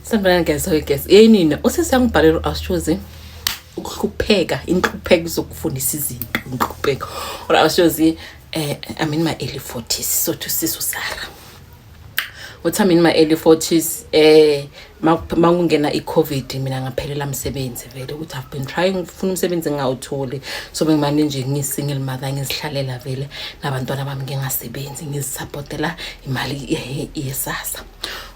Sanibonani guys, sorry guys. Yey nina, usisi angibhalele uAshozi ukuhlupheka, inhlupheko zokufundisa izinto, inhlupheko. Or Ashozi eh I'm in my early 40s, so to sisu Sarah. Uthi I'm in my early 40s eh makungena iCovid mina ngaphelela umsebenzi vele ukuthi I've been trying ukufuna umsebenzi ngawutholi. So bengimane nje ngisingle mother ngizihlalela vele nabantwana bami ngingasebenzi ngizisupportela imali yesasa. Eh,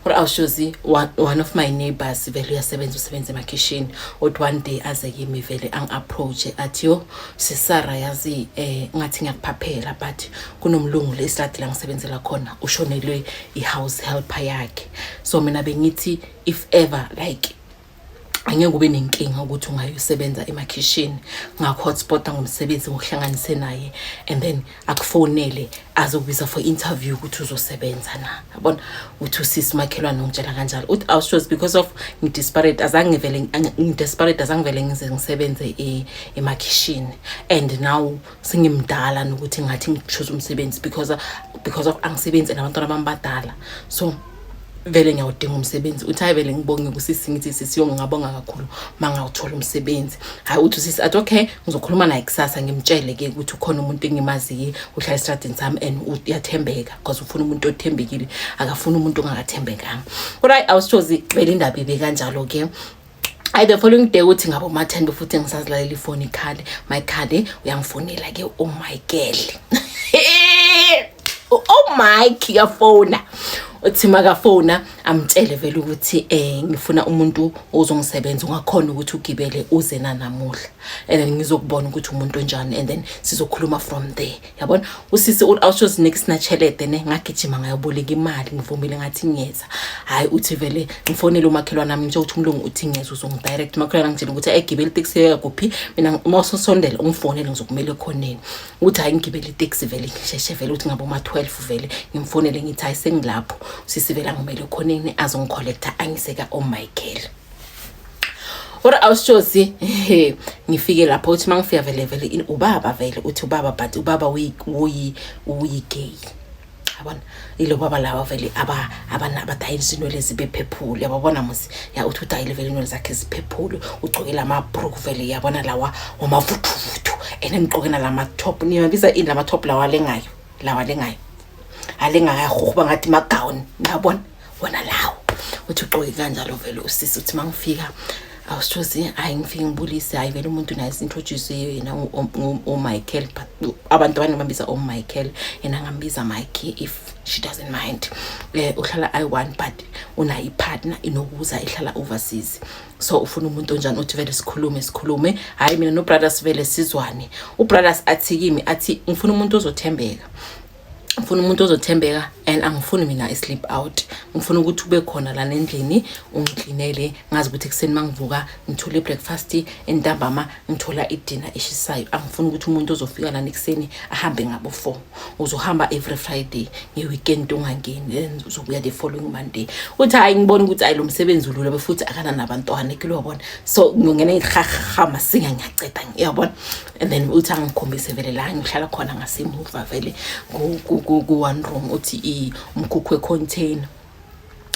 or awushozi one of my neighbors vele uyasebenza usebenza emakhishini uthi one day aze kimi vele angi-approache athi yo sisara yazi eh ngathi ngiyakuphaphela but kunomlungu lesiladi la ngisebenzela khona ushonelwe i-house helper yakhe so mina bengithi if ever like angeke ube nenkinga ukuthi ungayosebenza emakhishini ngakho-hotspota ngomsebenzi ngokuhlanganise naye and then akufonele azokubiza for interview ukuthi uzosebenza na yabona uthi usisi makhelwane ongitshela kanjalo uthi awushows because of ngidesperate azange ngivele ngidesperate azange ngivele ngize ngisebenze e, emakhishini and now sengimdala nokuthi ngathi ngichoose umsebenzi because because of angisebenzi nabantwana bami badala so vele ngiyawudinga umsebenzi uthi hayi vele ngibonge kusisi ngithi sisi yo ngingabonga kakhulu uma ngawuthola umsebenzi hayi uthi usisi athi okay ngizokhuluma naye kusasa ngimtshele-ke ukuthi ukhona umuntu engimaziye uhlala esitradini sami and uyathembeka because ufuna umuntu othembekile akafuni umuntu ongakathembekanga kodwa hayi awusithozi vele indaba ibe kanjalo-ke I the following day uthi ngabo ma 10 befuthi ngisazilalela ifoni ikhale my khale uyangifonela ke oh my girl oh mike yafona uthi makafona amtshele vele ukuthi eh ngifuna umuntu ozongisebenza ungakhona ukuthi ugibele uze nanamuhla and then ngizokubona ukuthi umuntu onjani and then sizokhuluma from there yabona usisi uthi awusozinika isinatshelede ne ngagijima ngayoboleka imali ngivumile ngathi ngiyeza hhayi uthi vele ngifonele umakhelwane ami njengokuthi umlungu uthi ngiyeza uzongidirect umakhelwane angitshela ukuthi ayigibele iteksi yoya kuphi mina uma usosondela ungifonele ngizokumele ekhoneni ukuthi hhayi ngigibele iteksi vele ngisheshe vele ukuthi ngabe uma-twelve vele ngimfonele ngithi hhayi sengilapho usisi vele angimele ekhoneni azongikholektha angiseka omichael kodwa awusitshozi he ngifike lapho uthi uma ngifika vele vele ubaba vele uthi ubaba but ubaba uyigay yabona ilo baba laba vele abadayisa inwele zibephephule yababona musi ya uthi udayile vele inwele zakhe ziphephule ugcokela amabruku vele yabona lawa wamavuthuvuthu and emgqokena la matop niyabiza ini la matop lawa alengayo lawa alengayo alengakayahuhuba ngathi magawuni niyabona wona lawo uthi ugqoke kanjalo vele usisi uthi mangifika awusithozi hayi ngifike ngibulise hayi vele umuntu naye sintroduce yena umichael abantu abanye bambiza umichael yena ngambiza mikey if she doesn't mind um uhlala i-one but unayo ipartner inokuza ihlala overseas so ufuna umuntu onjani uthi vele sikhulume sikhulume hhayi mina nobrothers vele sizwane ubrothers athi kimi athi ngifuna umuntu ozothembeka ngifuna umuntu ozothembeka and angifuni mina i-sleep out ngifuna ukuthi ube khona lana endlini ungiklinele ngazi ukuthi ekuseni uma ngivuka ngithole i-breakfast entambama ngithola idina eshisayo angifuni ukuthi umuntu ozofika lana ekuseni ahambe ngabo four uzohamba every friday nge-weekend ungangeni then uzobuya the following monday uthi hhayi ngibona ukuthi ayi lo msebenzi ulula befuthi akananabantwana kulobona so ngingena ihahaha masinga ngiyaceda ngiyabona and then uthi angikhombise vele la ngihlala khona ngasemuva vele ku-one room uthi umkhukhu wecontainer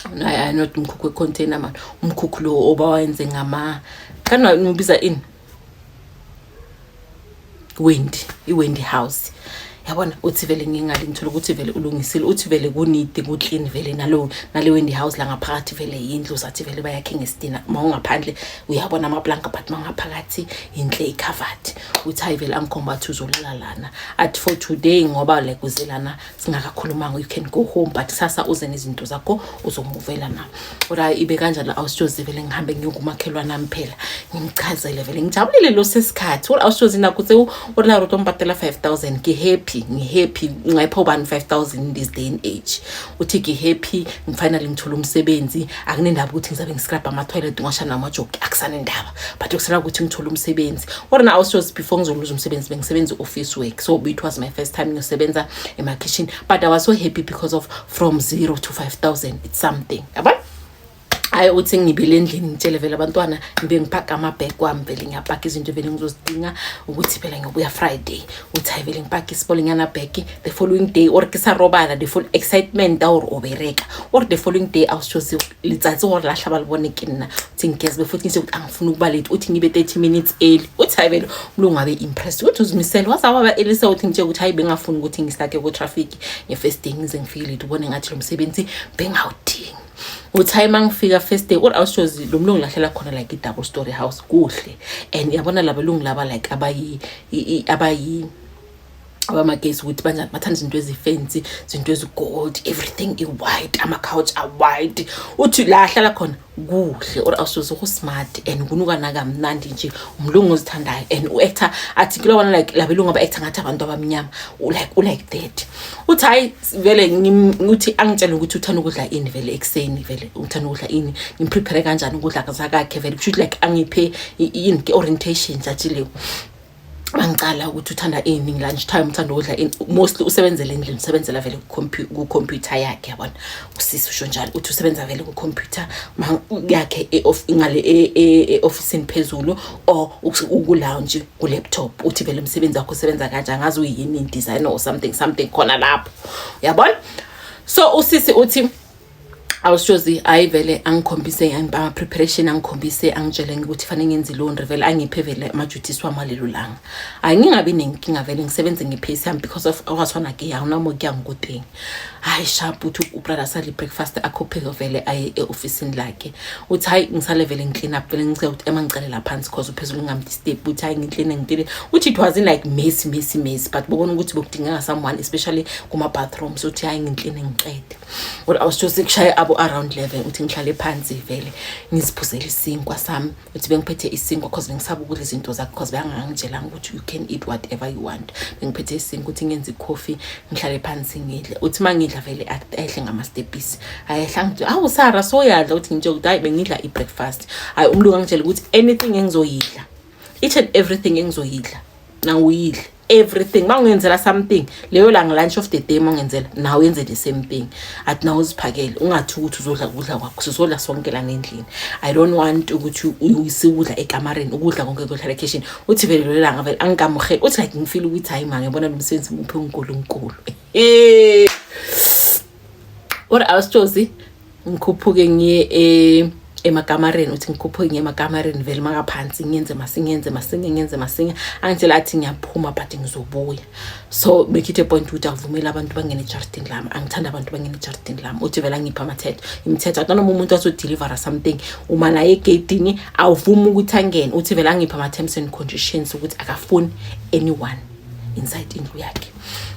I not umkhukhu wecontainer mani umkhukhu lo obawenze ngama kana ngibiza ini wendi iwendi house yabona uthi vele ngingali ngithola ukuthi vele ulungisile uthi vele kunidi kuclean vele nalo nale wendi house la ngaphakathi vele yindlu sathi vele bayakhe ngesidina uma ungaphandle uyabona amaplanka but uma ngaphakathi yinhle ikhavati uthi hayi vele angikhomba athi uzolala lana at for today ngoba like uze lana singakakhulumanga you can go home but sasa uze nezinto zakho uzomuvela na ora ibe kanjani awusitshozi vele ngihambe ngiyokumakhelwa nami phela ngimchazele vele ngijabulile lo sesikhathi ora awusitshozi nakho se ora roto ngibhatela 5000 ngihappy ngihappy ngayipha ubani 5000 in this day and age uthi ngihappy ngifinally ngithola umsebenzi akunendaba ukuthi ngizabe ngiscrub ama toilet ngasha namajoki akusana indaba but ukusala ukuthi ngithola umsebenzi ora na awusitshozi before ngizoluza umsebenzi bengisebenza office work so it was my first time ngiyosebenza ema kitchen but i was so happy because of from 0 to 5000 something yabona hayi uthi ngibile endlini ngitshele vele abantwana ngibe ngipaka amabhek wami vele ngiyapaka izinto vele ngizozidinga ukuthi phela ngiyobuya friday uthi hayi vele ngipaka isipolinyana bhek the following day or kisarobala the full excitement or obereka or the following day awushozi litsatsi or lahla balibone ke nna uthi ngigezbe futhi ngise ukuthi angifuni ukuba late uthi ngibe 30 minutes early uthi hayi vele umlungu abe impressed ukuthi uzimisele wazawaba elise uthi ngitsheke ukuthi hayi bengafuni ukuthi ngisake ku-traffic nge-first day ngize ngifike late ubone ngathi lo msebenzi bengawudingi uthi uma ngifika first day kodwa awushozi lo mlungu lahlela khona like i-double story house kuhle and yabona laba lungu laba like abayi abayi abamagesi ukuthi banjani bathanda izinto ezifensi izinto ezigold everything i-white ama-couch a-white uthi la ahlala khona kuhle or awusoze ukusmart and kunukana kamnandi nje umlungu ozithandayo and u-actor athi kula wana like labelungu aba-actor ngathi abantu abamnyama like ulike that uthi hhayi vele uthi angitshele ukuthi uthanda ukudla ini vele ekuseni vele uthanda ukudla ini ngimprepare kanjani ukudla zakakhe vele kusho ukuthi like angiphe yini ke-orientation nje athi leyo angicala ukuthi uthanda ini lunch time uthanda ukudla ini mostly usebenzela endlini usebenzela vele ku-computer yakhe yabona usisi usho njalo uthi usebenza vele ku-computer yakhe e ngale e-ofisini e, e, phezulu or uku-lounge ku-laptop uthi vele umsebenzi wakho usebenza kanje angazi uyini designer or something something khona lapho yabona so usisi uthi awushozi hayi vele angikhombise ama-preparation angikhombise angitshele ukuthi fanele ngenze ilondri vele angiphe vele amajuthisi wami walelo langa hayi ngingabi nenkinga vele ngisebenze ngephesi yami because of awasona ke awunamo kuya ngikudingi hayi sharp uthi ubrother sale i-breakfast akhopheke vele aye e-ofisini lakhe uthi hayi ngisale vele ngiclean up vele ngicela ukuthi ema ngicelela phansi cause uphezulu ngingamdisturb uthi hayi ngicleane ngicleane uthi it wasn't like messy messy messy but bobona ukuthi bekudingeka someone especially kuma-bathrooms uthi hayi ngicleane ngiqede kodwa awusithose kushaye abo around level ukuthi ngihlale phansi vele ngiziphuzele isinkwa sami uthi bengiphethe isinkwa cause bengisaba ukudla izinto zakho cause bengangitshelanga ukuthi you can eat whatever you want bengiphethe isinkwa ukuthi ngenze coffee ngihlale phansi ngidle uthi uma ngidla vele ayehle ngamastepisi ayehla ngithi awu sara soyadla ukuthi ngitshe ukuthi hayi bengidla i-breakfast hhayi umlungu angitshela ukuthi anything engizoyidla each and everything engizoyidla na uyidle everything uma ungenzela something leyo la nge-lunch of the day uma ungenzela nawe yenze the same thing athi nawe uziphakele ungathi ukuthi uzodla ukudla kwakho sizodla sonke la ngendlini i don't want ukuthi siwudla ekamareni ukudla konke kuyohlala ekhishini uthi vele lelo langa vele angikamuheli uthi like ngifile ukuthi hhayi ma ngibona lo msebenzi muphi unkulunkulu What else Jozi? Ngikhuphuke ngiye e emakamareni uthi ngikhuphuke ngiye emakamareni vele makaphansi ngenze masingenze masinge ngenze masinge angitshela athi ngiyaphuma but ngizobuya so bekhithe point ukuthi avumele abantu bangene ejardini lami angithanda abantu bangene ejardini lami uthi vele angipha amathetho imithetho athi noma umuntu azodeliver something uma naye egeyidini awuvumi ukuthi angene uthi vele angipha ama-terms and conditions ukuthi akafuni anyone inside indlu yakhe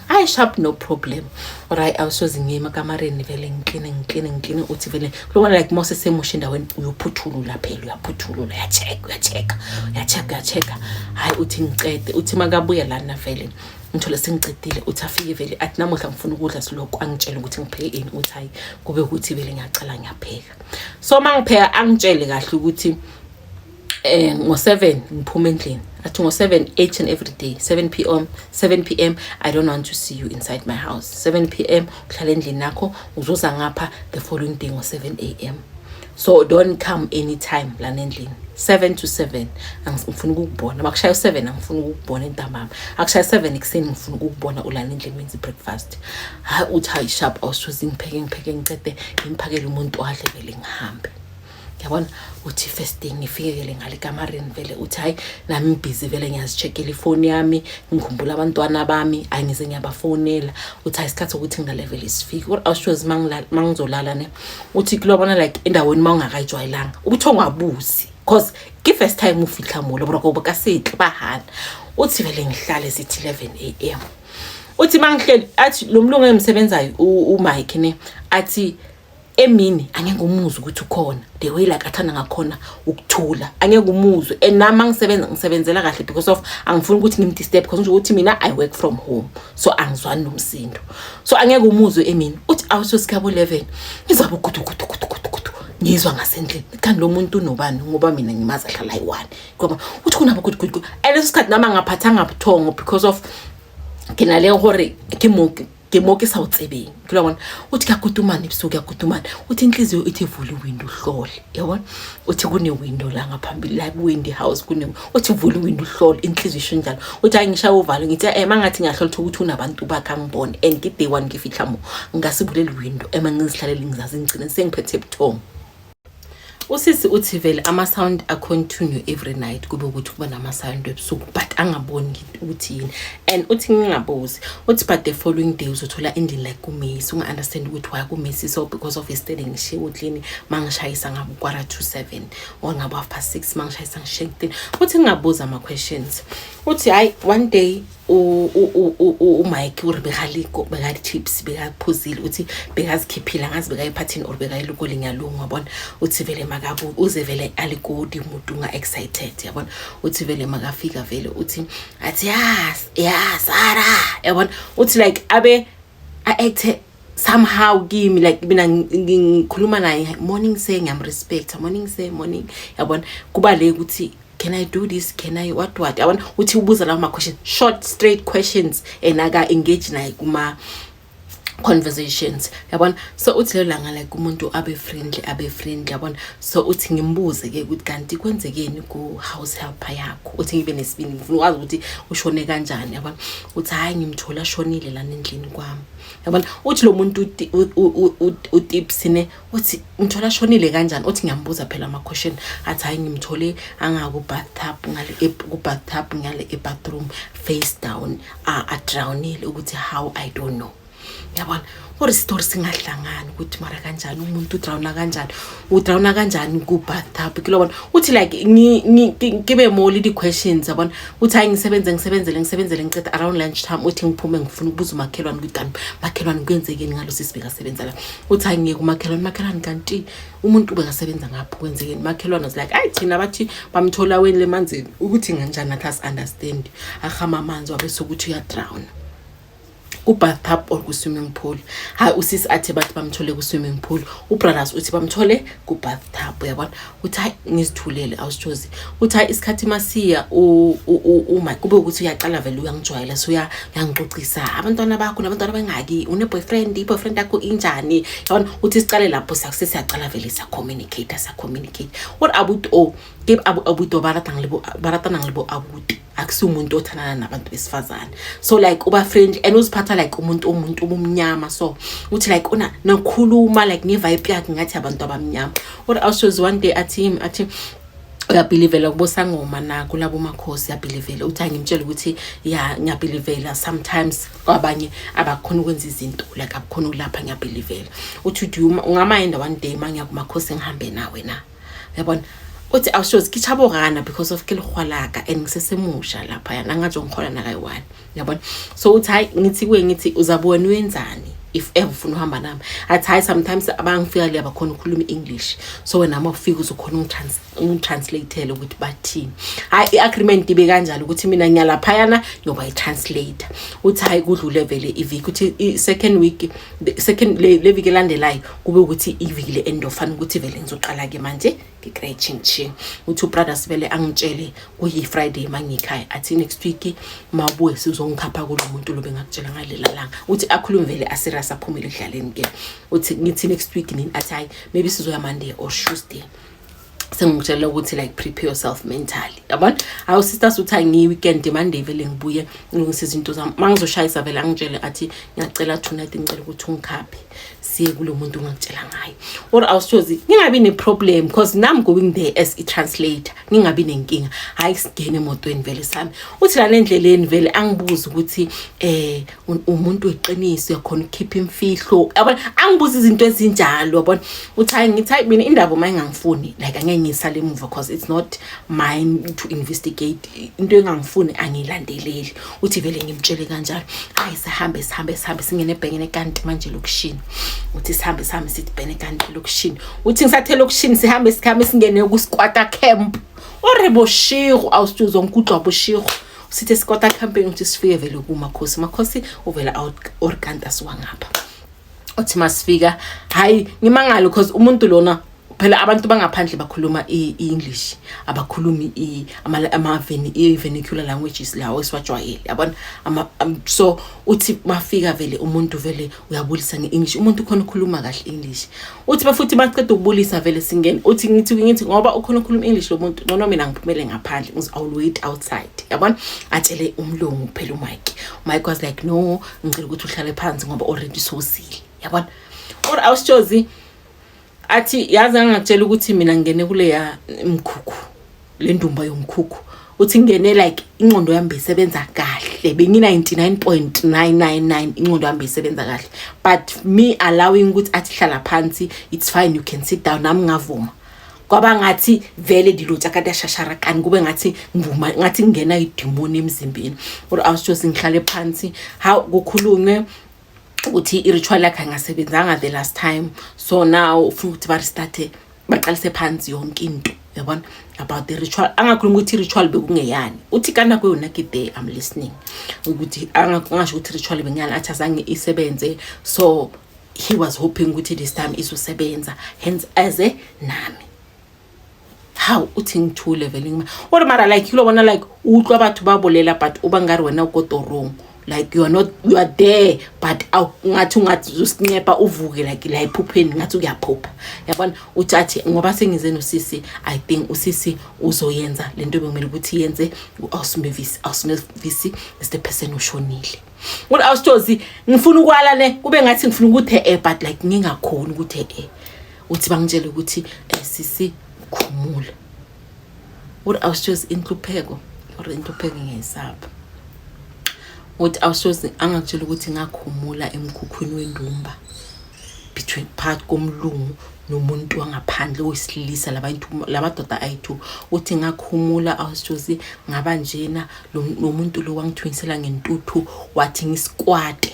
I sharp no problem right awusoze ngiye emakamareni vele ngikline ngikline ngikline uthi vele lobona like mose semusha endaweni uyophuthulula phela uyaphuthulula uyacheck uyacheck uyacheck uyacheck hayi uthi ngicede uthi makabuya lana vele ngithole sengicedile uthi afike vele athi namuhla ngifuna ukudla siloko angitshele ukuthi ngipheke ini uthi hayi kube ukuthi vele ngiyacala ngiyapheka so mangipheka angitshele kahle ukuthi eh ngo7 ngiphuma endlini athi ngo7 each and every day 7 pm 7 pm i don't want to see you inside my house 7 pm uhlala endlini nakho uzuza ngapha the following day ngo7 am so don't come anytime lana endlini 7 to 7 angifuni ukukubona makushaya u7 angifuni ukukubona entambama akushaya 7 ekuseni ngifuna ukukubona ulana endlini menzi breakfast ha uthi hayi sharp awusuze ngipheke ngipheke ngiqede ngimphakele umuntu wadle vele ngihambe yabona uthi first thing ngifikekele ngale kamarini vele uthi hhayi nami ngibhizi vele ngiyazi-check-ela ifoni yami ngikhumbula abantwana bami hhayi ngize ngiyabafonela uthi hhayi isikhathi sokuthi ngilale vele sifike kodwa awushozi uma ngizolala ne uthi kulobona like endaweni uma ungakayijwayelanga ukuthi ongabuzi because ki-first time ufitlha molo bro koba kasetle bahana uthi vele ngihlale sithi 11 a m uthi uma ngihleli athi lo mlungu engimsebenzayo umike ne athi emini angeke umuzwe ukuthi ukhona the way like athanda ngakhona ukuthula angeke umuzwe and nami angisebenza ngisebenzela kahle because of angifuni ukuthi ngimdisturb because nje ukuthi mina i work from home so angizwani nomsindo so angeke umuzwe emini uthi awusosikabo 11 ngizaba ukuthi ukuthi ukuthi ukuthi ngizwa ngasendlini kanti lo muntu unobani ngoba mina ngimazi ahlala yi-one ngoba uthi kunabo ukuthi ukuthi and leso sikhathi nami angaphathanga buthongo because of ke na le gore ke mo ke mo ke sa o tsebeng ke bona o tika kutumane bso ke kutumane o tin tlizo o ti vuli window hlole ya bona o ti kune window la nga phambi like windy house kune o ti vuli window hlole intlizo isho njalo o ti ngisha o valo ngithi eh mangathi ngiyahlola ukuthi ukuthi unabantu bakha ngibone and ke day one ngifihla mo ngasibuleli window ema ngizihlalele ngizazi ngicine sengiphethe buthongo usisi uthi vele ama-sound acontinue every night kube ukuthi kuba nama-sound ebusuku but angaboni ukuthi yini and uthi ngingabuzi uthi but the following day uzothola endlini like kumesi unga-understand ukuthi why kumesi so because of yesterday ngishiye uklini ma ngishayisa ngabo kwara to seven or ngabo half past six ma ngishayisa ngishiye kuklini uthi ngingabuza ama-questions uthi hhayi one day umike uri bekaliko bekali-chips bekaphuzile uthi bekazikhiphile angazi bekayephathini or bekayilukoli ngiyalungu yabona uthi vele makabu uze vele alikodi umuntu unga-excited yabona uthi vele makafika vele uthi athi yas yas ara yabona uthi like abe a-acte somehow kimi like mina ngikhuluma naye morning say ngiyamrespecta morning say morning yabona kuba le ukuthi can i do this can i what what yabona uthi ubuza lawo ma-question short straight questions and aka-engage naye kuma conversations yabona so uthi lelo langa like umuntu abe friendly abe friendly yabona so uthi ngimbuze ke ukuthi kanti kwenzekeni ku house helper yakho uthi ngibe nesibindi ngifuna ukwazi ukuthi ushone kanjani yabona uthi hayi ngimthola shonile lana endlini kwami yabona uthi lo muntu utipsine uthi ngithola shonile kanjani uthi ngiyambuza phela ama question athi hayi ngimthole angaku bathtub ngale ku bathtub ngale e bathroom face down a a drownile ukuthi how i don't know yabona or story singahlangani ukuthi mara kanjani umuntu udrawna kanjani udrawna kanjani ku-bathtub kilobona uthi like ngibe moli di-questions yabona uthi hayi ngisebenze ngisebenzele ngisebenzele ngiceda around lunch time uthi ngiphume ngifuna ukubuza umakhelwane ukuthi kanti makhelwane kwenzekeni ngalo sisibeka sebenza la uthi angiyeke umakhelwane makhelwane kanti umuntu ubekasebenza ngapho kwenzekeni makhelwane was like ayi thina bathi bamthola weni le manzini ukuthi nganjani nathi asi-understand ahama amanzi wabe sokuthi uyadrawna ku-bathtub or ku-swimming pool hhayi usisi athe bathi bamthole ku-swimming pool ubrothers uthi bamthole ku-bathtub uyabona uthi hayi ngizithulele awusithozi uthi hayi isikhathi masiya uma kube ukuthi uyaqala vele uyangijwayela so uyangixoxisa abantwana bakho nabantwana bengaki une-boyfriend i-boyfriend yakho injani yabona uthi siqale lapho sesiyaqala vele siyacommunicate siyacommunicate what abuti o ke abuti o ba ratang le bo abuti akusiwumuntu othandana nabantu besifazane so like uba friend and uziphatha like umuntu umuntu ubumnyama so uthi like una nakhuluma like ngevibe yakhe ngathi abantu abamnyama or awushows one day athi him athi uyabhilivela kubosangoma na kulabo makhosi uyabhilivela uthi angimtshela ukuthi ya ngiyabhilivela sometimes kwabanye abakhona ukwenza izinto like abakhona ukulapha ngiyabhilivela uthi ungama enda one day mangiya kumakhosi ngihambe nawe na yabona uthi awusho zikhitsha borana because of ke lihwa laka and ngisesemusha lapha yana angatsho ngihola nakayi-one yabona so uthi hhayi ngithi kuye ngithi uzabona wenzani if ever ufuna uhamba nami athi hhayi sometimes abangifika le abakhona ukhuluma i-english so wena uma ufika uzokhona ungitranslate-ele ukuthi bathini hhayi i-agreement ibe kanjalo ukuthi mina ngiyalaphayana ngiyoba i-translator uthi hhayi kudlule vele iviki ukuthi i-second week second le viki elandelayo kube ukuthi iviki le end ofana ukuthi vele ngizoqala-ke manje ngikretshintshe uthi ubrother sivele angitshele kuyi-friday ma ngikhaya athi next week ma ubuye sizongikhapha kulo muntu lobe ngakutshela ngalela langa uthi akhulume vele aserious aphumele ekudlaleni ke uthi ngithi next week nini athi hhayi maybe sizoya monday or tuesday sengikutshela ukuthi like prepare yourself mentally yabona awu sister suthi angiyi-weekend monday vele ngibuye ngilungise izinto zami uma ngizoshayisa vele angitshele athi ngiyacela tonight ngicela ukuthi ungikhaphe siye kulo muntu ongakutshela ngayo or awusithozi ngingabi ne-problem because nam going there as i-translator ngingabi nenkinga hhayi singene emotweni vele sami uthi lana endleleni vele angibuze ukuthi um umuntu weqiniso uyakhona ukukhipha imfihlo yabona angibuza izinto ezinjalo yabona uthi hayi ngithi hayi mina indaba uma ingangifuni like angeke ngisale emuva because it's not mine to investigate into engangifuni angilandeleli uthi vele ngimtshele kanjalo ayi sihambe sihambe sihambe singene ebhekene kanti manje lokushini uthi sihambe sihambe sithi bhene kanti lokushini uthi ngisathe lokushini sihambe sihambe singene kusikwata camp orebo shigo awusithi uzonke udlwa bushigo sithe sikota campaign ukuthi sifike vele kumakhosi makhosi uvela out or kanti asiwangapha uthi masifika hayi ngimangalo because umuntu lona phela abantu bangaphandle bakhuluma i-english abakhulumi ama-vernacular languages lawo esiwajwayele yabona so uthi bafika vele umuntu vele uyabulisa nge-english umuntu ukhona ukhuluma kahle english uthi bafuthi baceda ukubulisa vele singene uthi ngithi ngithi ngoba ukhona ukhuluma english lo muntu ncono mina ngiphumele ngaphandle ngiz iwill wait outside yabona atshele umlungu kuphela umike umike was like no ngicela ukuthi uhlale phansi ngoba already sosile yabona or awusitshozi athi yazi angakutshela ukuthi mina ngingene kuleya mkhukhu le ndumba yomkhukhu uthi ngingene like inqondo yami beyisebenza kahle bengi-99.999 inqondo yami beyisebenza kahle but me allowing ukuthi athi hlala phansi it's fine you can sit down nami ngavuma kwaba ngathi vele ndilotsha kade ashashara kani kube ngathi ngivuma ngathi kungena idimoni emzimbeni or i was just ngihlale phansi how kukhulunywe ukuthi i-ritual yakhe angasebenzanga the last time so now ufuna ukuthi barestarte baqalise phansi yonke into yabona about the ritual angakhulumi ukuthi i-ritual bekungeyani uthi kana kweyona kide am listening ukuthi angasho ukuthi i-ritual bengeyani athi azange isebenze so he was hoping ukuthi this time izosebenza hence eze nami how uthi ngithule vele ngima or mara like you bona like utlwa batho ba bolela but uba ngari wena uko torong like you are not you are there but ngathi ungathi usincepa uvuke like la iphupheni ngathi uyaphupha yabona uthi athi ngoba sengize nosisi i think usisi uzoyenza lento bekumele ukuthi yenze uAusmevisi Ausmevisi is the person ushonile ngoba awusitozi ngifuna ukwala ne kube ngathi ngifuna ukuthi eh but like ngingakhona ukuthi eh uthi bangitshele ukuthi eh, sisi khumula uthi awushozi inhlupheko or inhlupheko ngiyayisaba uthi awushozi angakutshela ukuthi ngakhumula emkhukhwini wendumba between phakathi komlungu nomuntu wangaphandle oyisilisa labantu labadoda ayi-two uthi ngakhumula awushozi ngaba njena nomuntu lo wangithunyisela ngentuthu wathi ngisikwate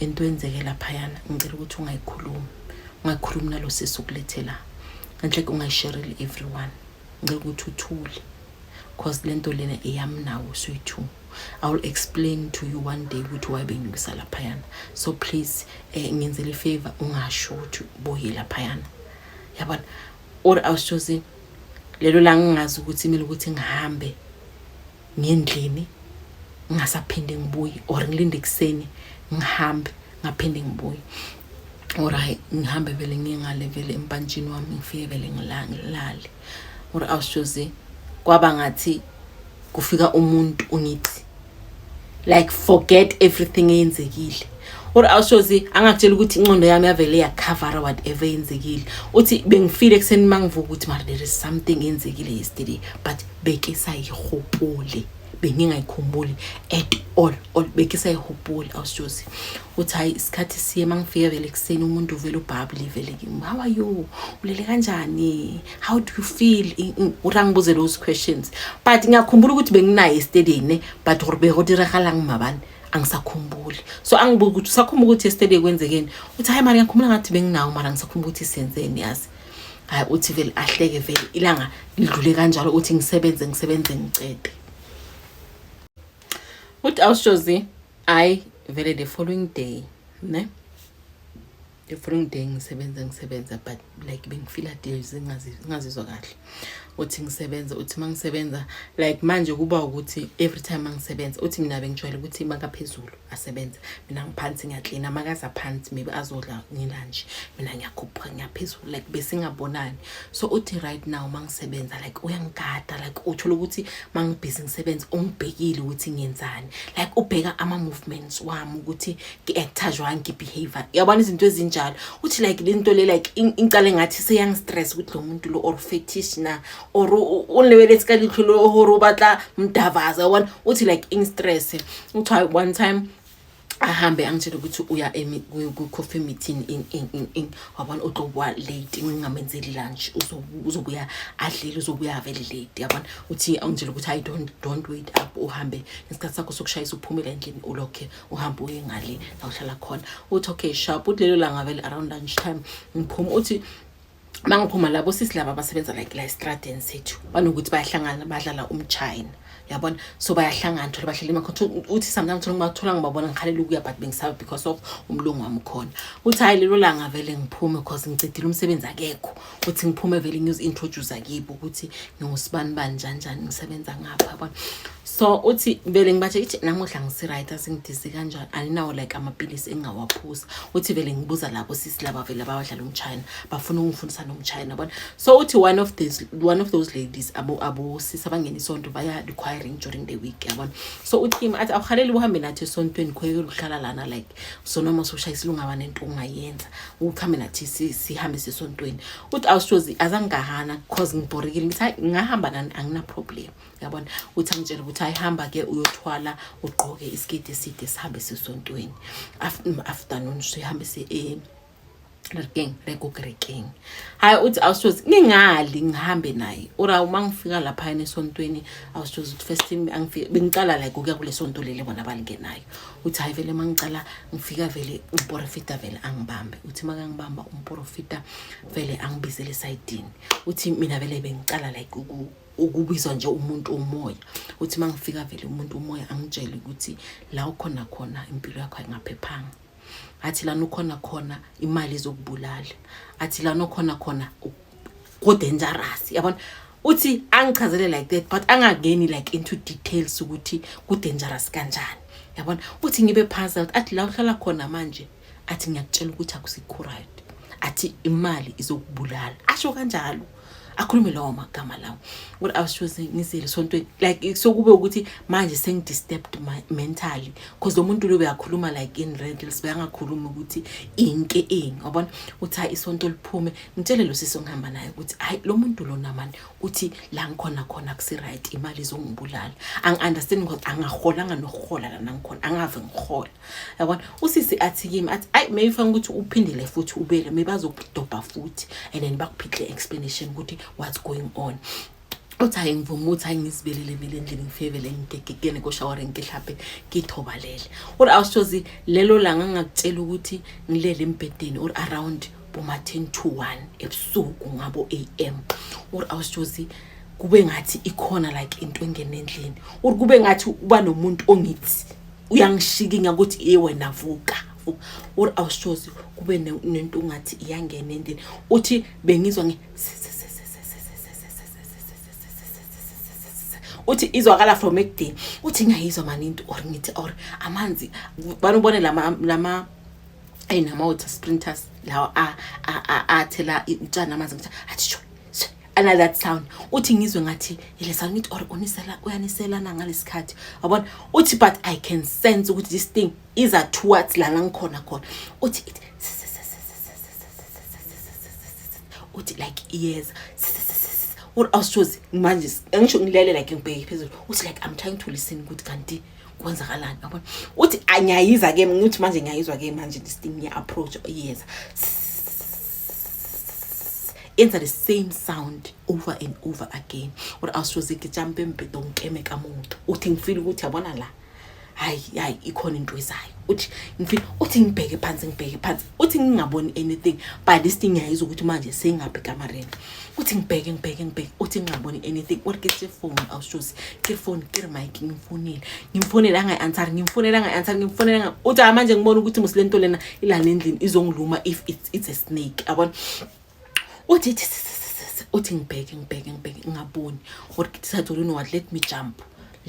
into enzeke laphayana ngicela ukuthi ungayikhulumi ungayikhulumi nalo sisi ukulethe la ngenhle ke ungayishereli everyone ngicela ukuthi uthule cause le nto lena eyami nawo soyi-two i will explain to you one day ukuthi why bengibisa laphayana so please eh, ngenzele ifavor ungasho ukuthi boye laphayana yabona or awushozi lelo la ngingazi ukuthi kumele ukuthi ngihambe ngendlini ngingasaphinde ngibuye or ngilinde ekuseni ngihambe ngaphinde ngibuye or hayi ngihambe vele ngingale vele empantshini wami ngifike vele ngilale or awushoze kwaba ngathi kufika umuntu ungithi like forget everything eyenzekile or awushozi angakutshela ukuthi inqondo yami yavele yakhavara whatever eyenzekile uthi bengifile ekuseni uma ngivuka ukuthi mara there is something eyenzekile yesterday but bekisayihupuli bengingayikhumbuli at all all bekisayihupuli awusijozi uthi hayi isikhathi siye uma ngifika vele ekuseni umuntu uvele ubhabule vele kimi how are you ulele kanjani how do you feel uthi angibuze those questions but ngiyakhumbula ukuthi benginaye estedini but gore bekodiragalang mabani angisakhumbuli so angibuki ukuthi usakhumbula ukuthi yesterday kwenzekeni uthi hayi mara ngiyakhumbula ngathi benginawo mara ngisakhumbula ukuthi senzeni yazi hayi uthi vele ahleke vele ilanga lidlule kanjalo ukuthi ngisebenze ngisebenze ngicede uthi awushozi hayi vele the following day ne the following day ngisebenza ngisebenza but like bengifila deals ngingazizwa kahle uthi ngisebenza uthi uma ngisebenza like manje kuba ukuthi every time mangisebenza uthi mina bengijwayele ukuthi makaphezulu asebenze mina ngiphansi ngiyaklina makaza phansi maybe azodla ngilanje mina ngiyakhuphuka ngiyaphezulu like besingabonani so uthi right now mangisebenza like uyangigada like uthola ukuthi mangibhizi ngisebenza ungibhekile ukuthi ngiyenzani like ubheka ama movements wami ukuthi ngi-acta jwani ngi-behavior yabona izinto ezinjalo uthi like le nto le like ingicale ngathi seyangistress ukuthi lo muntu lo or fetish na or o lebeletse ka ditlholo gore o batla mdavaza one uthi like ing stress kuthiwa one time ahambe angitshele ukuthi uya kwi-coffee meeting in in in in wabona uzobuya late ngingamenzeli lunch uzobuya adlile uzobuya vele late yabona uthi angitshele ukuthi i don't don't wait up uhambe ngesikhathi sakho sokushayisa uphumile endlini ulokhe uhambe uye ngale la uhlala khona uthi okay sharp uthi lelo langa vele around lunch time ngiphuma uthi mangiphuma labo sisi laba abasebenza like la estradeni sethu banokuthi bayahlangana badlala umchina yabona so bayahlangana thola bahlele emakhona uthi sometimes thola ngibathola ngibabona ngikhalela ukuya but bengisaba because of umlungu wami khona uthi hayi lelo langa vele ngiphume because ngicidile umsebenzi akekho uthi ngiphume vele ngiyozi-introduce kibo ukuthi ngingusibani bani njani njani ngisebenza ngapha yabona so uthi vele ngibathe ithi namuhla ngisi-right asingidizi kanjani aninawo like amapilisi engingawaphuza uthi vele ngibuza labo sisi laba vele abawadlala umchina bafuna ukungifundisa nomchina bona so uthi one of these one of those ladies abosisi abangena isonto baya requiring during the week yabona so uthim athi awuhaleli uhambe nathi esontweni khweke luhlala lana like so noma soshaya isilungaba nento ungayenza ukuhambe nathi sihambe sesontweni uthi awushozi azangigahana because ngibhorekile ngithi ngahamba nani anginaproblem yabona uthi angitshela ukuthi ayihamba ke uyothwala ugqoke isiketi eside sihambe sisontweni afternoon sihambe si eh, Rekeng, rekuke rekeng. Hayi uthi awusozi ngingali ngihambe naye. Ora uma ngifika lapha yena esontweni awusozi ukuthi first time angifike bengicala like ukuya kule sonto leli bona balingenayo. Uthi hayi vele mangicala ngifika vele umprofita vele angibambe. Uthi makangibamba umprofita vele angibizele esidini. Uthi mina vele bengicala like uku ukubizwa nje umuntu umoya uthi uma ngifika vele umuntu umoya angitshele ukuthi la ukhona khona impilo yakho ayingaphephanga athi lana ukhona khona imali izokubulala athi lana ukhona khona kudangerous yabona uthi angichazele like that but angangeni like into details ukuthi kudangerous kanjani yabona uthi ngibe phansi athi la uhlala khona manje athi ngiyakutshela ukuthi akusikho right athi imali izokubulala asho kanjalo akhulume lawo magama lawo what i was choosing ngizile sontweni like sokube ukuthi manje sengidisturbed mentally because lo muntu lo beyakhuluma like in rentals beyangakhuluma ukuthi inke ini wabona uthi hayi isonto liphume ngitshele lo sisi ongihamba naye ukuthi hayi lo muntu lona mani uthi la ngikhona khona kusi-right imali izongibulala angi-understand because angaholanga nokuhola lana ngikhona angave ngihola yabona usisi athi kimi athi ayi maybe fanele ukuthi uphindele futhi ubele maybe azokudobha futhi and then bakuphihle explanation ukuthi what's going on uthi hayi ngivuma ukuthi hayi ngizibelele mina endlini ngifevele ngigegekene koshawara ngihlaphe ngithobalele or awushozi lelo langa ngakutshela ukuthi ngilele embhedeni or around boma 10 to 1 ebusuku ngabo am or awushozi kube ngathi ikhona like into engene endlini or kube ngathi uba nomuntu ongithi uyangishikinya ukuthi iye wena vuka or awushozi kube nento ungathi iyangena endini uthi bengizwa ngi uthi izwakala from ekudeni uthi ngiyayizwa mani into or ngithi or amanzi banubone lama lama ayinama water sprinters lawa athela utshani amanzi ngithi athi ana that sound uthi ngizwe ngathi ile sound ngithi or unisela uyaniselana ngalesikhathi yabona uthi but i can sense ukuthi this thing is a towards lana ngikhona khona uthi it uthi like yes what else chose manje angisho ngilele like ngibheke phezulu uthi like i'm trying to listen ukuthi kanti kwenzakalani yabona uthi anyayiza ke ngithi manje ngiyayizwa ke manje this thing ngiya approach yes enza the same sound over and over again uri awusoze ngijampe embheda ngikeme kamuntu uthi ngifile ukuthi yabona la hayi hayi ikhona into ezayo uthi ngifile uthi ngibheke phansi ngibheke phansi uthi ngingaboni anything but this thing yayiza ukuthi manje seyingaphi kamareni uthi ngibheke ngibheke ngibheke uthi ngingaboni anything uri ke phone awusoze ke phone ke mic ngimfonile ngimfonile angayi answer ngimfonile angayi answer ngimfonile uthi manje ngibona ukuthi musilento lena ilana endlini izongiluma if it's, it's a snake abona uthi uthi ngibheke ngibheke ngibheke ngingaboni or kithi sathole no what let me jump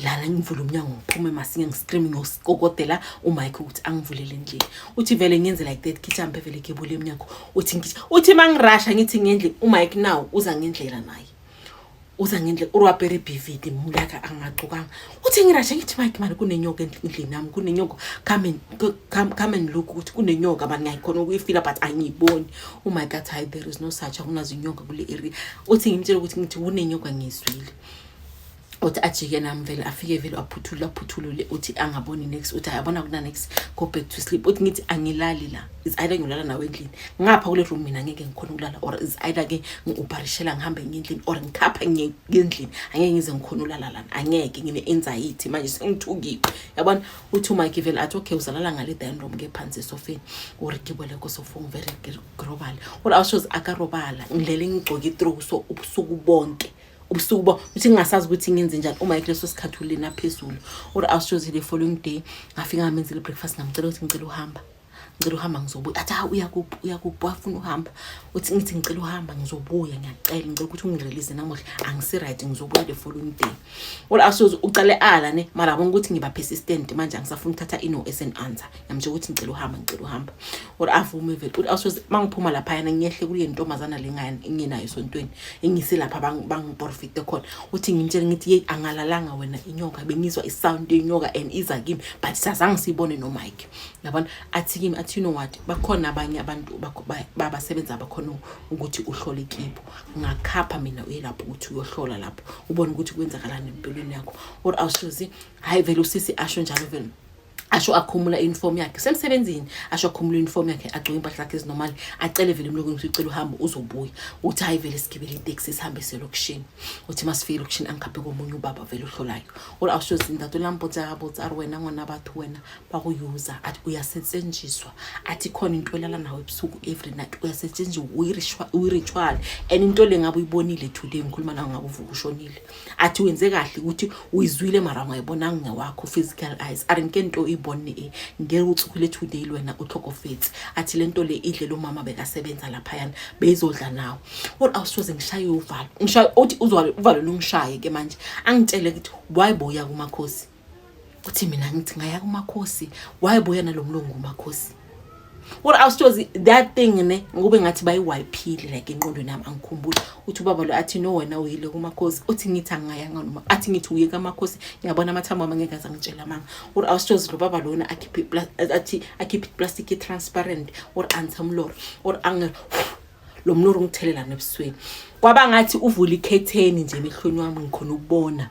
lana ngivule umnyango ngiphume masinge ngiscreame ngiyosikokodela umike ukuthi angivulele nje uthi vele ngenze like that kithi ambe vele kebule emnyango uthi ngithi uthi mangirasha ngithi ngendle umike now uza ngendlela naye uza ngendle urwapere bividi mulaka angacukanga uthi ngirashe ngithi mike mani kunenyoka endlini nami kunenyoka come and come, come and look ukuthi kunenyoka mani ngiyayikhona ukuyifila but angiyiboni umike oh athi hayi there is no such akunazo inyoka kule area uthi ngimtshela ukuthi ngithi kunenyoka ngiyizwile uthi ajike nami vele afike vele aphuthule aphuthulule uthi angaboni next uthi ayabona kuna next go back to sleep uthi ngithi angilali la is either ngiyolala nawe endlini ngapha kule room mina ngeke ngikhona ukulala or is either ke ngiuparishela ngihambe ngendlini or ngikhapha ngendlini angeke ngize ngikhona ulala lana angeke ngine anxiety manje sengithukile yabona uthi uma givel athi okay uzalala ngale dining room ke phansi esofeni or gibele ko sofa ngivele global or awushoze akarobala ngilele ngigcoke through so ubusuku bonke ubusuku bo uthi ngingasazi ukuthi ngenze njani uma ekuleso sikhathi ulena phezulu or awushoze the following day ngafika ngamenza le breakfast ngamcela ukuthi ngicela uhamba ngicela uhamba ngizobuya athi ha uyakuphi uyakuphi wafuna uhamba uthi ngithi ngicela uhamba ngizobuya ngiyacela ngicela ukuthi ungirelease namuhla angisi-right ngizobuya the following day all asoze ucale ala ne mara abona ukuthi ngiba persistent manje angisafuni ukuthatha ino as an answer ngiyamsho ukuthi ngicela uhamba ngicela uhamba all avume vele all asoze mangiphuma lapha yana ngiyehle kule ntombazana lengane enginayo sontweni engise lapha bangiporfite khona uthi ngimtshele ngithi yeyi angalalanga wena inyoka bengizwa isound yenyoka and iza kimi but sazange siyibone nomike yabona athi kimi athi you know what bakhona abanye abantu babasebenza bakhona ukuthi uhlole kibo ngakhapha mina uye lapho ukuthi uyohlola lapho ubone ukuthi kwenzakalani empilweni yakho or awushozi hayi vele usisi asho njalo vele asho akhumula uniform yakhe semsebenzini asho akhumula uniform yakhe agcoke impahla zakhe ezinormal acele vele umlungu ukuthi ucela uhamba uzobuya uthi hayi vele sigibele itaxi sihambe selokishini uthi masifike elokishini angikhaphe komunye ubaba vele ohlolayo or awusho zindatu lampotsa abotsa ari wena ngwana bathu wena bakuyuza athi uyasetshenziswa athi khona into elala nawe ebusuku every night uyasetshenziswa uyi-ritual and into le ngabe uyibonile today ngikhuluma nawe ngabe uvuka ushonile athi wenze kahle ukuthi uyizwile mara ungayibonanga ngewakho physical eyes are nke nto uyibone e ngeke uthukile today lwena utlhokofetsi athi le nto le idle lo mama bekasebenza laphayana beyizodla nawe or awusoze ngishaye uvalo ngishaye uthi uzwale uvalo lungishaye ke manje angitshele ukuthi why boya kumakhosi uthi mina ngithi ngaya kumakhosi wayebuya nalomlungu umakhosi or awusitozi that thing ne ngikube ngathi bayiwayiphile like enqondweni yami angikhumbuli uthi ubaba lo athi no wena uyile kumakhosi uthi ngithi angingayanga noma athi ngithi uye kamakhosi ngiyabona amathambo ami ngeke azangitshela manga or awusitozi lo baba lona akhiphe athi akhiphe plastic transparent or antamlor or ange lo mnoro ngithelelana ebusweni kwaba ngathi uvula ikhetheni nje emehlweni wami ngikhona ukubona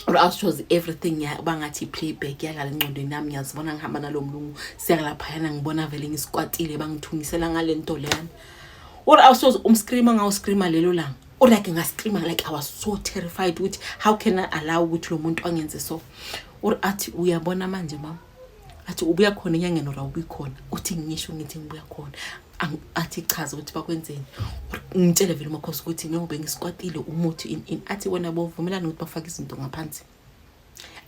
or else she was everything uba ngathi i-playback yadlala encondweni yami ngiyazibona ngihamba nalo mlungu siyakalaphayana ngibona vele ngisikwatile bangithungisela ngale nto leyana or else was umscreama ngawuscreama lelo langa or like ngascreama like i was so terrified ukuthi how can i allow ukuthi lo muntu angenze so or athi uyabona manje mama athi ubuya khona enyangeni or awubi khona uthi ngisho ngithi ngibuya khona athi chaza ukuthi bakwenzeni ngitshele vele umakhosi ukuthi njengoba ngisikwatile umuthi in in athi wena bovumelana ukuthi bafake izinto ngaphansi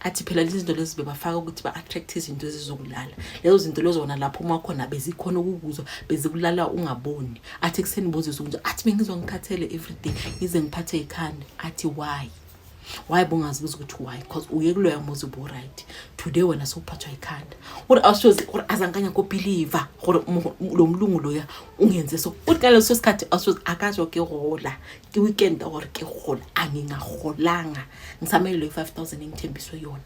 athi phela lezi zinto lezi bebafaka ukuthi ba-attract izinto ezizokulala lezo zinto lezona lapho uma khona bezikhona ukukuzwa bezikulala ungaboni athi ekuseni bozizwa kunje athi bengizwa ngikhathele everyday ngize ngiphathe ikhanda athi why why bungazibuza ukuthi why because uye kuloya muzi uburight today wena sewuphathwa ikhanda uri awusoze uri azangikanya kobhiliva gore lo mlungu loya ungenze so uthi ka leso sikhathi awusoze akatsho ke gola ke weekend gore ke gola angingagolanga ngisamele loyi-five thousand engithembiswe yona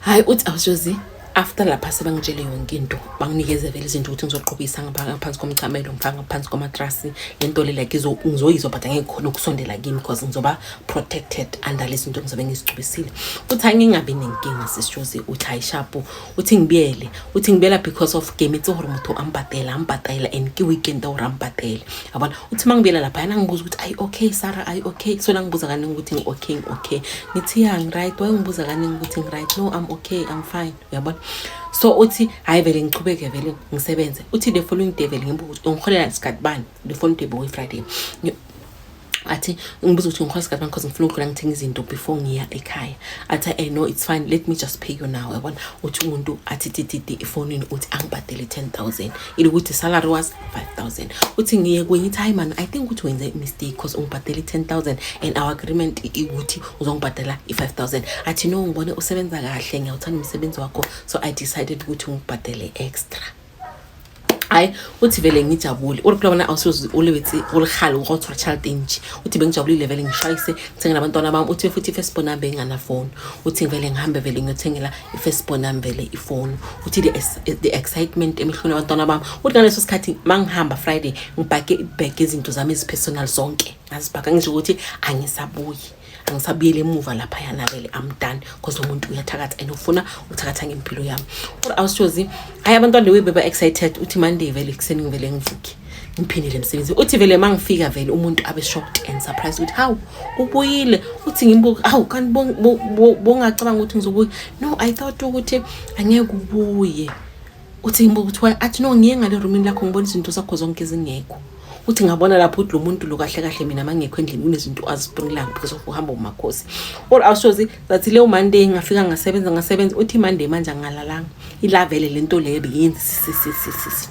hayi uthi awusozi after lapha sebangitshele yonke into banginikeze vele izinto ukuthi ngizoqhubisa ngaphansi komchamelo ngifaka ngaphansi kwamatrasi le nto le like ngizoyizwa but angeke khona ukusondela kimi because ngizoba protected under lezi zinto ngizobe ngizigcubisile uthi angingabi nenkinga sisijozi uthi hayi shapu uthi ngibiyele uthi ngibiyela because of game itse gore motho a mpatela a mpatela and ke weekend a gore a mpatele yabona uthi uma ngibiyela lapha yana ngibuza ukuthi ayi okay sara ayi okay so la ngibuza kaningi ukuthi ngi-okay ngi-okay ngithi ya ngi-right waye ngibuza kaningi ukuthi ngi-right no i'm okay i'm fine uyabona so uthi hhayi vele ngiqhubeke vele ngisebenze uthi the following day vele ngibuza ungiholela sikhathi bani before ngiphebe boy friday athi ngibuza ukuthi ngikhwasa kanjani because ngifuna ukudlula ngithenga izinto before ngiya ekhaya athi eh no it's fine let me just pay you now yabona uthi umuntu athi tititi efonini uthi angibhadele 10000 ilokuthi salary was 5000 uthi ngiye kwenye ithi hayi man i think ukuthi wenze mistake because ungibhadele 10000 and our agreement ukuthi uzongibhadela i5000 athi no ngibone usebenza kahle ngiyawuthanda umsebenzi wakho so i decided ukuthi ngikubhadele extra hayi uthi vele ngijabule uri kulabona awusoze ulithi ulikhale urothwa child inji uthi bengijabulile vele ngishayise ngithenge nabantwana bami uthi futhi i-first born yami benganafoni uthi vele ngihambe vele ngiyothengela i-first born yami vele ifoni uthi the excitement emehlweni abantwana bami uthi ngaleso sikhathi ma ngihamba friday ngibhake ibhege izinto zami ezipersonal zonke ngazibhaka ngisho ukuthi angisabuyi angisabuyeli emuva laphaya nabele i'm done because umuntu uyathakatha and ufuna ukuthakatha ngempilo yami or awushozi hayi abantwana lewe beba excited uthi monday vele ekuseni ngivele ngivuke ngiphindile emsebenzini uthi vele uma ngifika vele umuntu abe shocked and surprised ukuthi hawu ubuyile uthi ngimbuke hawu kanti bongacabanga ukuthi ngizobuya no i thought ukuthi angeke ubuye uthi ngibuka ukuthi why athi no ngiye ngale roomini lakho ngibona izinto zakho zonke ezingekho uthi ngabona lapho ukuthi lo muntu lo kahle kahle mina mangekho endlini kunezinto azibringilanga because of uhamba umakhosi all our shows zathi leyo monday ngafika ngasebenza ngasebenza uthi monday manje angalalanga ilavele le nto leyo beyenzi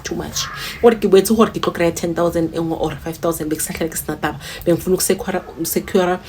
too much or ngibethe uhor ngixoxela 10000 or 5000 bekusahlale kusinataba bengifuna ukusecura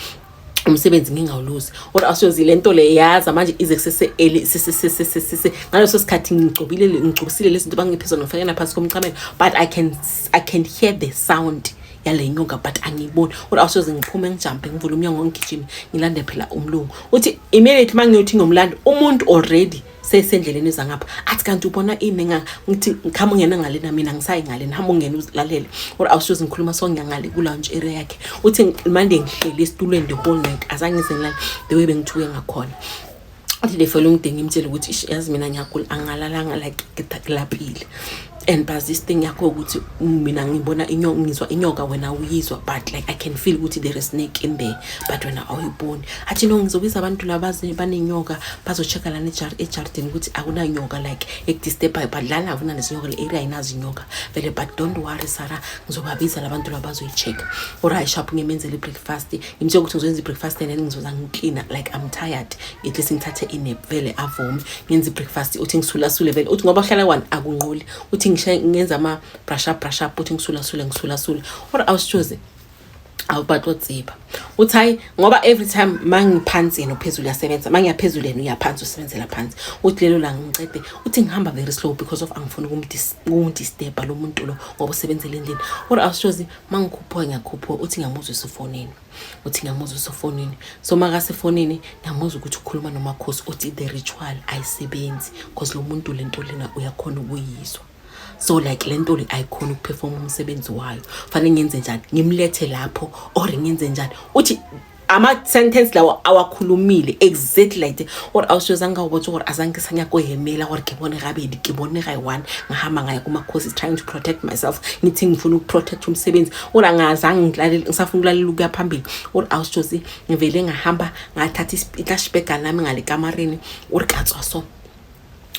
umsebenzi ngingawuluzi or asozi le nto le yaza manje ize kusese ngaleso sikhathi ngigcobile ngigcobisile lezi zinto bangiphe zona ngifake naphansi komchamelo but i can i can hear the sound yale nyoka but angiyiboni or asoze ngiphume ngijampe ngivule umnyango ngigijime ngilande phela umlungu uthi immediately uma ngiyothi ngomlando umuntu already sesendleleni eza ngapha athi kanti ubona ini nga ngithi ngikhama ungena ngalena mina ngisayi ngalena hamba ungena uzilalele or awushoze ngikhuluma sonke ngale ku-lounge area yakhe uthi mande ngihleli esitulweni the whole night azange izenilale the way bengithuke ngakhona uthi the following day ngimtshele ukuthi yazi mina ngiyagula angalalanga like ngidakilapile and plus this thing yakho ukuthi mina ngibona inyoka ngizwa inyoka wena uyizwa but like i can feel ukuthi there is snake in there but wena awuyiboni athi no ngizobiza abantu laba banenyoka bazochecka lana ejardini ukuthi akunanyoka like ekudisturbayo but lana akunanezinyoka le area ayinazinyoka vele but don't worry sara ngizobabiza labantu laba bazoyichecka or i shop ngimenzele i-breakfast ngimtshela ukuthi ngizoyenza i-breakfast and then ngizoza ngiklina like i'm tired at least ngithathe inep vele avome ngenza ibreakfast uthi ngisulasule vele uthi ngoba uhlala kwani akunqoli uthi ngenza ama-brush up brush up uthi ngisulasule ngisulasule or awusitshoze awubathi otsiba uthi hayi ngoba every time mangiphansi yena uphezulu uyasebenza mangiyaphezulu yena uyaphansi usebenzela phansi uthi lelo langa ngicede uthi ngihamba very slow because of angifuni ukumdisturba lo muntu lo ngoba usebenzela endlini or awusitshozi mangikhuphuka ngiyakhuphuka uthi ngiyamuzwa esefonini uthi ngiyamuza usefonini so makasefonini ngiyamuza ukuthi ukhuluma nomakhosi uthi the ritual ayisebenzi because lo muntu le nto lena uyakhona ukuyizwa so like le nto le ayikhona ukuphefoma umsebenzi wayo fanele ngenze njani ngimlethe lapho or ngenze njani uthi ama-sentence lawo awakhulumile exactly like the gore a o seo zanka o botse gore a zanke sa nyako emela gore ke bone gabedi ke bone ga one ngahama ngaya kumakhosi trying to protect myself ngithi ngifuna ukuprotect umsebenzi or angazange ngilalele ngisafuna ukulalela ukuya phambili or awusjosi ngivele ngahamba ngathatha itlashbega lami ngalekamareni or katswa so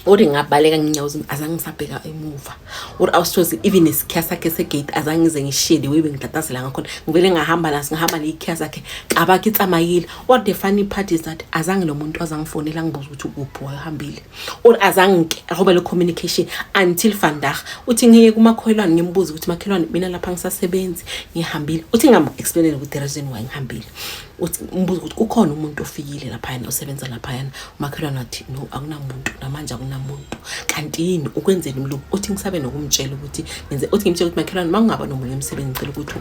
or ngabaleka nginyawozi azange ngisabheka emuva or awusjosi even isikhiya sakhe segate azange ngize ngishiye the way bengitatazela ngakhona ngivele ngahamba la singihamba neyikhiya sakhe qabakhe itsamayile or the funny part is that azange lo muntu azangifonela ngibuza ukuthi ukuphi wayehambile or azange ahobe le communication until vandag uthi ngiye kumakholwane ngimbuza ukuthi makhelwane mina lapha ngisasebenzi ngihambile uthi ngam-explainele ukuthi the reason why ngihambile uthi mbuza ukuthi kukhona umuntu ofikile laphayana osebenza laphayana umakhelwane wathi no akunamuntu namanje akunamuntu kanti yini ukwenzeni umlungu uthi ngisabe nokumtshela ukuthi ngenze uthi ngimtshela ukuthi makhelwane uma ungaba nomunye umsebenzi ngicela ukuthi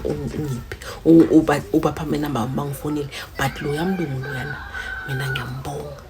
ungiphi ubapha amenamba wami bangifonile but loya mlungu loyana mina ngiyambonga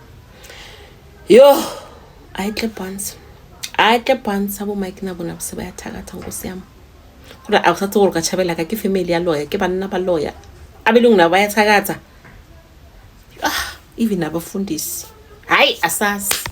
Yo, hayi clip once. Hayi clip once abo Mike nabo nabo sebayathakatha nkosi yami. Kodwa awusathi gore ka Chabela ka ke family ya lawyer, ke banna ba lawyer. Abelungu nabo bayathakatha. Ah, even abafundisi. Hayi asasi.